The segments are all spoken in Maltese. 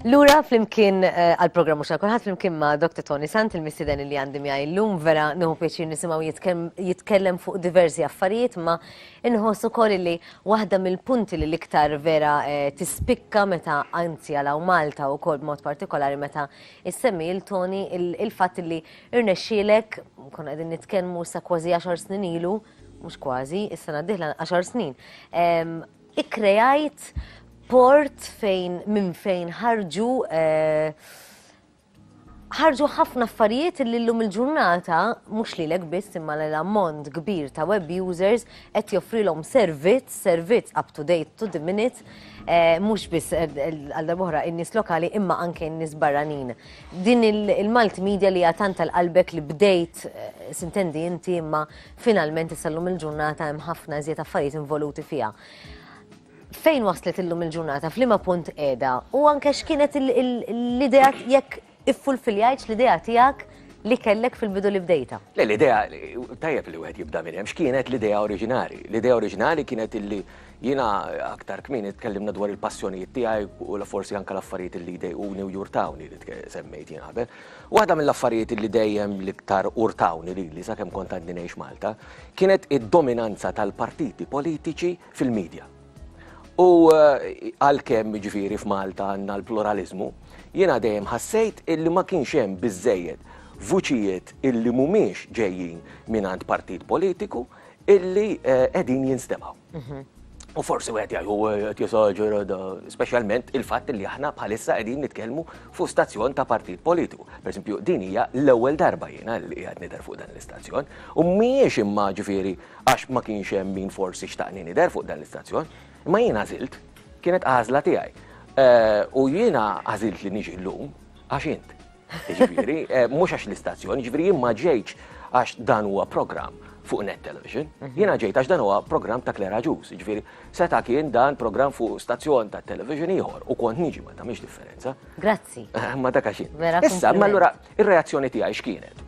Lura flimkien eh, għal-programmu xa kulħadd flimkien ma' Dr. Tony Sant il-missiden li għandi miegħi llum vera nieħu pjaċir nisimgħu jitkellem fuq diversi affarijiet ma inħoss ukoll li waħda mill-punti li l-iktar vera eh, tispikka meta anzi għalaw Malta u kol b'mod partikolari meta issemmi il-Tony il-fatt li irnexxielek konna qegħdin nitkellmu sa kważi 10 snin ilu mhux kważi, is-sena d-dieħla għaxar snin, ikkrejajt port fejn minn fejn ħarġu ħarġu ħafna affarijiet li l-lum il-ġurnata, mux li l-ek biss imma l-ammont kbir ta' web users, et joffrilom servizz, servizz up to date, to the minute, eh, mux biss eh, għalda boħra in-nis lokali imma anke in-nis barranin. Din il-multimedia li għatan tal-qalbek li bdejt, eh, sintendi inti imma Finalment issa llum il-ġurnata hemm ħafna iżjed affarijiet involuti fiha. Fejn waslet illum il-ġurnata, f'liema punt qiegħda, u anke x'kienet l-idea jekk iffulfiljajtx l-idea tiegħek li kellek fil-bidu li bdejta. Le l-idea, tajjeb li wieħed jibda minn hemm, x'kienet l-idea oriġinali? L-idea oriġinali kienet illi jiena aktar kmieni tkellimna dwar il-passjonijiet tiegħi u forsi anke l-affarijiet li jdejquni u jurtawni li semmejt jien qabel. Waħda mill-affarijiet li dejjem l-iktar urtawni lili sakemm kont għadni ngħix Malta kienet id-dominanza tal-partiti politiċi fil-media. U għalkemm, jiġifieri, f'Malta għandna l-pluraliżmu, jiena dejjem ħassejt illi ma kienx hemm biżżejjed vuċijiet illi mhumiex ġejjin mingħand partit politiku illi qegħdin jinstemgħu. U forsi wieħed jgħid u qed jesaġera da, speċjalment il-fatt li aħna bħalissa qegħdin nitkellmu fuq stazzjon ta' partit politiku. Pereżempju, din hija l-ewwel darba jiena li qiegħed nidher fuq dan l-istazzjon u mhijiex imma ġifieri għax ma kienx hemm min forsi xtaqni nidher fuq dan l-istazzjon, imma jiena żilt kienet għażla tiegħi. Eh, u jiena għażilt li niġi llum għax int. Jiġifieri, mhux għax l-istazzjon, jiġifieri jien ma ġejtx għax dan huwa programm fuq net television. Mhm. Jiena ġejt għax dan huwa programm ta' Klera Ġus, jiġifieri seta' kien dan programm fuq stazzjon ta' television ieħor u kont niġi ma tagħmilx differenza. Grazzi. Ma dak għax Issa, ma allura ir-reazzjoni tiegħi x'kienet?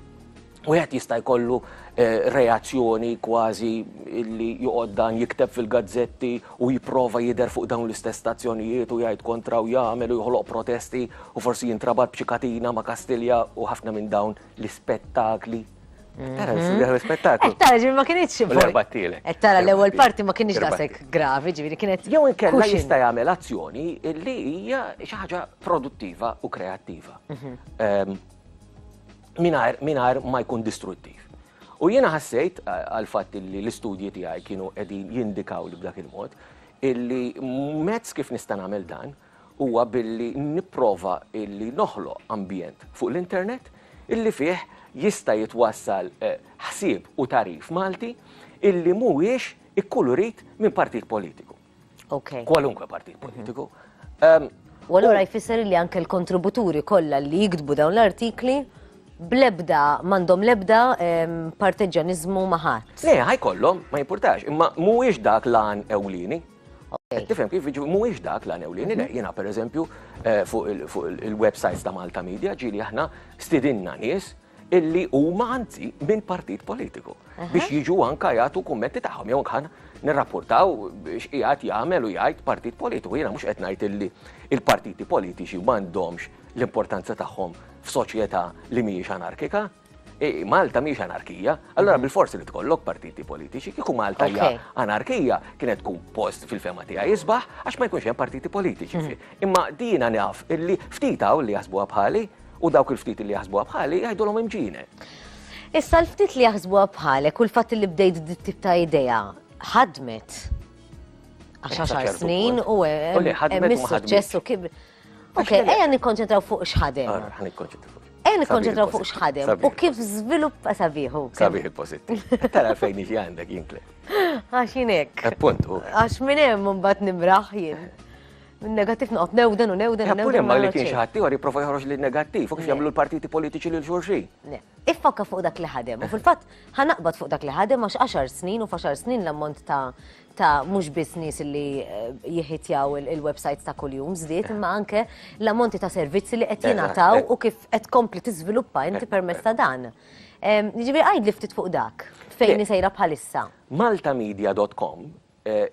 Wieħed jista' jkollu reazzjoni kważi li joqgħod dan jikteb fil-gazzetti u jipprova jidher fuq dawn l-istess stazzjonijiet u jgħid kontra u jagħmel u joħloq protesti u forsi jintrabat b'xi katina ma' Kastilja u ħafna minn dawn l-ispettakli. Tara, l-ispettaklu. Eh, tara, ġifieri ma kienx. L-erbattielek. Eh, tara, l-ewwel parti ma kienx daqshekk gravi, ġifieri kienet. Jew inkella jista' jagħmel azzjoni li hija xi ħaġa produttiva u kreattiva. Mhm. Ehm, mingħajr mingħajr ma jkun distruttiv. U jiena ħassejt għal fatt li l-istudji tiegħi kienu qegħdin jindikaw li b'dak il-mod illi mezz kif nista' nagħmel dan huwa billi nipprova illi noħloq ambjent fuq l-internet illi fih jista' jitwassal eh, ħsieb u tarif Malti illi mhuwiex ikkulurit minn partit politiku. kwalunkwe partit politiku. U allura jfisser li anke l-kontributuri kollha li jiktbu dawn l-artikli blebda, mandom lebda parteġġanizmu maħat. Le, ħajkollhom, ma jimpurtax, imma mhuwiex dak lan ewlieni. Tifhem kif jiġu mhuwiex dak lan ewlieni, le jiena pereżempju eh, fuq il-websites ta' Malta Media ġieli aħna stidinna nies illi huma anzi minn partit politiku biex jiġu anka jagħtu kummenti tagħhom jew kan nirrapportaw x'qiegħed jagħmel u jgħid partit politiku. Jiena mhux qed ngħid illi il-partiti politiċi m'għandhomx l-importanza tagħhom f'soċjetà li mhijiex anarkika. E, Malta mhijiex anarkija, allora mhm. bil-forsi li tkollok partiti politiċi, kieku Malta hija anarkija kienet tkun post fil-fema tiegħi jisbaħ għax ma jkunx hemm partiti politiċi. Mhm. Imma dina naf illi ftit hawn li jasbuha bħali U dawk il-ftit li jaħsbuha bħali jgħidulhom imġine. Issa l-ftit li jaħsbuha bħalek u l-fatt li bdejt dit tip ta' idea ħadmet. Għax għaxar snin u hemm is-suċċess u kib. Ok, ejja nikkonċentraw fuq x'ħadem. Ejja nikkonċentraw fuq x'ħadem u kif żviluppa sabiħu. Sabiħ il-pożittiv. Tara fejn iġi għandek jinkle. Għax jinek. Appunt. Għax minn hemm mbagħad nimraħ jien. Negattiv noqgħod newden u newden. Eppur eh, imma li kien xi ħadd ieħor jipprova joħroġ li negattiv u kif jagħmlu l-partiti politiċi lil xulxin. Iffokka fuq dak li ħadem u fil-fatt ħanaqbad fuq dak li ħadem għax 10 snin u f'għaxar snin l-ammont ta' ta' mhux biss nies li eh, jihitjaw il-websites ta' kuljum żdied, imma anke l-ammonti ta' servizzi li qed jingħataw eh. u kif qed kompli tiżviluppa inti eh, permezz ta' dan. Jiġifieri għid li ftit fuq dak fejn sejra bħalissa. Maltamedia.com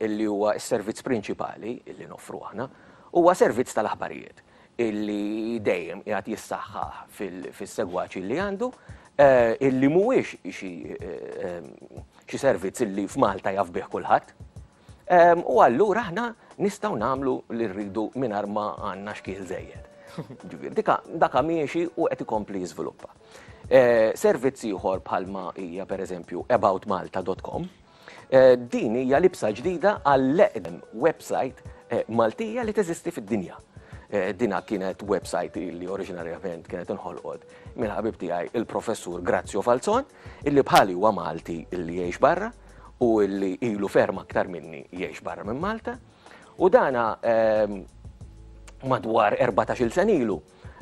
li huwa s-servizz prinċipali li noffru aħna, huwa servizz tal-aħbarijiet li dejjem qiegħed jissaħħaħ fis-segwaċ li għandu, li mhuwiex xi servizz li f'Malta jaf bih kulħadd. U allura aħna nistgħu nagħmlu li rridu mingħajr ma għandna xkiel żejjed. Jiġifieri dak miexi u qed ikompli jiżviluppa. Servizz ieħor bħalma hija pereżempju AboutMalta.com. Din hija libsa ġdida għall-eqdem websajt Maltija li teżisti fid-dinja. Dinha kienet websajt li oriġinarjament kienet inħolqot mill-ħabib tiegħi il-Professur Grazio Falzon, illi bħali huwa Malti li jgħix barra u li ilu ferm aktar minni jgħix barra minn Malta. U dana madwar erbatax-il sen ilu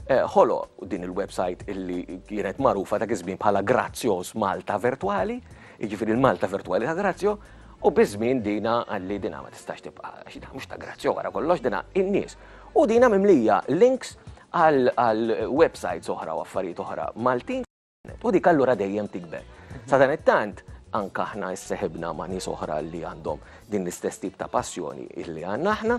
ħoloq din il-website illi kienet magħrufa dak iż-żmien bħala Grazzjoż Malta Virtwali, jiġifieri l-Malta Virtwali ta' Grazzjo, u biż-żmien dina qalli dina ma tistax tibqa' għax dina mhux ta' Grazzjo wara kollox dina in-nies. U dina mimlija links għal websites oħra u affarijiet oħra Maltin. U dik allura dejjem tikber. Sa dan it-tant, anke aħna isseħibna ma' nies oħra li għandhom din l-istess tip ta' passjoni illi għandna aħna,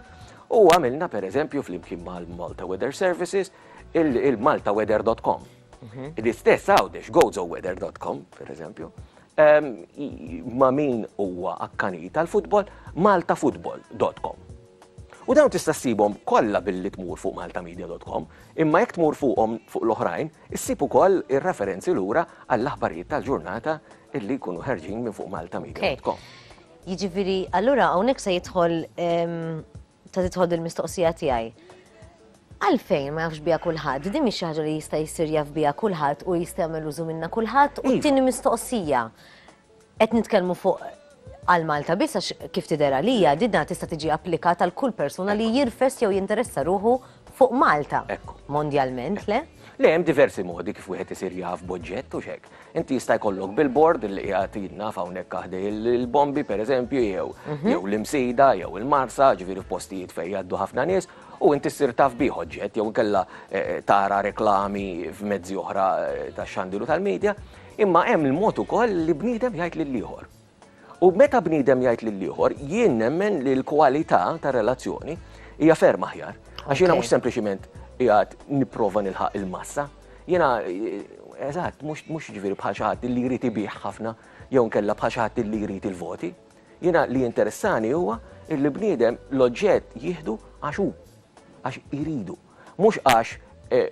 u għamilna pereżempju flimkien mal-Malta Weather Services il-maltaweather.com. Mhm. L-istess għawdex gozoweather.com, pereżempju, ehm, ma' min huwa akkani tal-futbol, maltafutbol.com. U dawn tista' ssibhom kollha billi tmur fuq maltamedia.com, imma jekk tmur fuqhom fuq l-oħrajn, Issib ukoll ir-referenzi lura għall-aħbarijiet tal-ġurnata illi jkunu ħerġin minn fuq maltamedia.com. Jiġifieri, allura hawnhekk se jidħol ta' tidħol il-mistoqsija tiegħi. Għalfejn ma jafx biha kulħadd? Din mhix xi ħaġa li jista' jsir jaf biha kulħadd u jista' jagħmel użu minnha kulħadd u t-tieni mistoqsija. Qed nitkellmu fuq għal Malta biss għax kif tidher għalija didna tista' tiġi applikata għal kull persuna li jirfes jew jinteressa ruħu fuq Malta. Ekku. Mondjalment, le? Le, hemm diversi modi kif wieħed isir jaf b'oġġett u x'hekk. Inti jista' jkollok billboard li qiegħed jidna hawnhekk aħdej il-bombi pereżempju jew mhm. jew l-imsida jew il-marsa, ġifieri f'postijiet fejn jgħaddu ħafna nies, u inti ssir taf bih oġġett jew inkella eh, eh, tara reklami f'mezzi oħra eh, tax-xandilu tal-medja, Imma hemm il-mod ukoll li bniedem jgħid lil ieħor. U meta bniedem jgħid lil ieħor, jien nemmen li l-kwalità ta' relazzjoni hija ferm aħjar. Għax jiena mhux sempliċiment jgħat nipprova nilħaq il-massa. Jiena eh, eżatt, mhux ġifieri bħal xi ħadd li jrid ibih ħafna jew nkella bħal xi ħadd li jrid il-voti. Jiena li interessani huwa il bniedem l-oġġett jieħdu għax hu, għax iridu. Mhux għax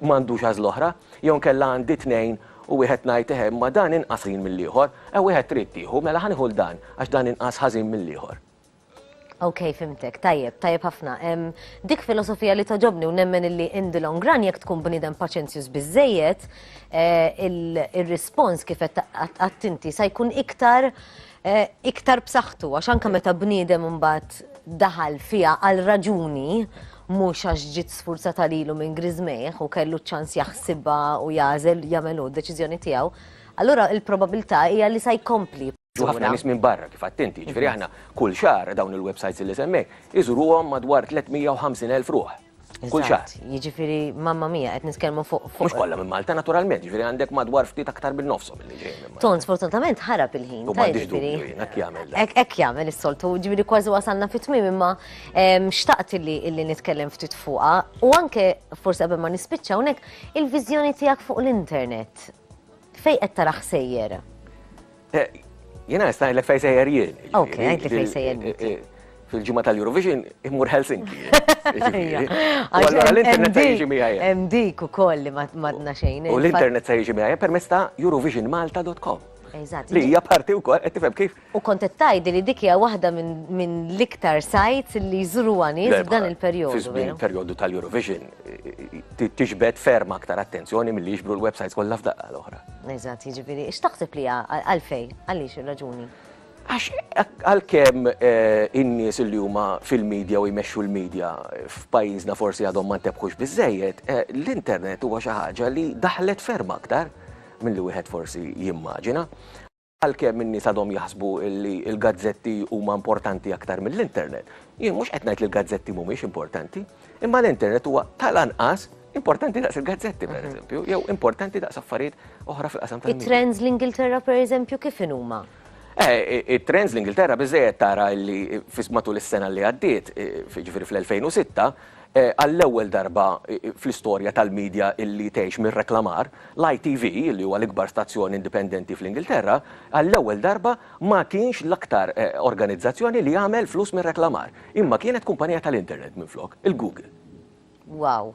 m'għandux għażla oħra, jew inkella għandi tnejn u wieħed ngħid eħe imma dan inqas ħażin mill-ieħor, ew wieħed trid tieħu, mela ħa nieħu 'l dan għax dan inqas ħażin mill-ieħor. Ok, fhimtek, tajjeb, tajjeb ħafna. Dik filosofija li togħġobni u nemmen illi in the long run jekk tkun bniedem paċenzjuż biżejjed, eh, ir-rispons kif qed għattinti sa jkun iktar eh, iktar b'saħħtu għax anke meta bniedem imbagħad daħal fiha għal raġuni mhux għax ġiet sfurzata lilu minn Grizmejh u kellu ċans jaħsibha u jażel jagħmel hu d-deċiżjoni tiegħu, allura il-probabilità hija li sa jkompli. U ħafna nies minn barra kif attenti, ġifieri aħna kull xahar dawn il-websites li semmejt iżuruhom madwar 350,000 ruħ. Kull xahar. Eżatt, Jiġifieri mamma mia qed nitkellmu fuq Mhux fuq. kollha minn Malta naturalment, ġifieri għandek madwar ftit aktar minn nofshom li ġejjin minn Malta. Ton sfortunatament ħarab il-ħin. U ta' m'għandix jiġifieri- dubju jien, hekk jagħmel dan. Hekk hekk jagħmel is-soltu, ġifieri kważi wasalna fit-tmiem imma ehm, xtaqt illi illi nitkellem ftit fuqha u anke forsi qabel ma nispiċċa hawnhekk il-viżjoni tiegħek fuq l-internet. Fejn qed tarah sejjer? Eh, Jena nista' ngħidlek fejn sejjer jien. Ok, għajtli fejn sejjer. Eh, eh, fil-ġimgħa tal-Eurovision imur Helsinki. Allora l-internet se jiġi miegħi. Hemm dik ukoll li madna xejn. U l-internet se jiġi miegħi permezz ta' eurovisionmalta.com. Li hija parti wkoll qed tifhem kif. U kont qed tgħid li dik hija waħda minn l-iktar sajts li jżuru nies f'dan il-perjodu. F'dan il-perjodu tal-Eurovision tixbet ferm aktar attenzjoni mill-li jixbru l-websites kollha f'daqqa l-oħra. Eżatt, jiġifieri, x'taħseb li għalfej, għaliex ir-raġuni? Għax għalkemm eh, in-nies li huma fil-medja u jmexxu l-medja f'pajjiżna forsi għadhom ma ntebħux biżejjed, eh, l-internet huwa xi ħaġa li daħlet ferm aktar mill-li wieħed forsi jimmaġina. Għalkemm in-nies għadhom jaħsbu li l-gazzetti huma importanti aktar mill-internet. Jien mhux qed ngħid li l-gazzetti mhumiex importanti, imma l-internet huwa tal-anqas importanti daqs il-gazzetti, pereżempju, jew importanti daqs affarijiet oħra fil-qasam tal-media. It-trends l-Ingilterra, pereżempju, kif inhuma? It-trends l-Ingilterra biżżejjed tara li matul is-sena li għaddiet, jiġifieri fl-2006, Għall-ewwel darba fl-istorja tal-media illi tgħix mir-reklamar, l-ITV, illi huwa l-ikbar stazzjon indipendenti fl-Ingilterra, għall-ewwel darba ma kienx l-aktar organizzazzjoni li għamel flus mir-reklamar, imma kienet kumpanija tal-internet minflok, il-Google. Wow!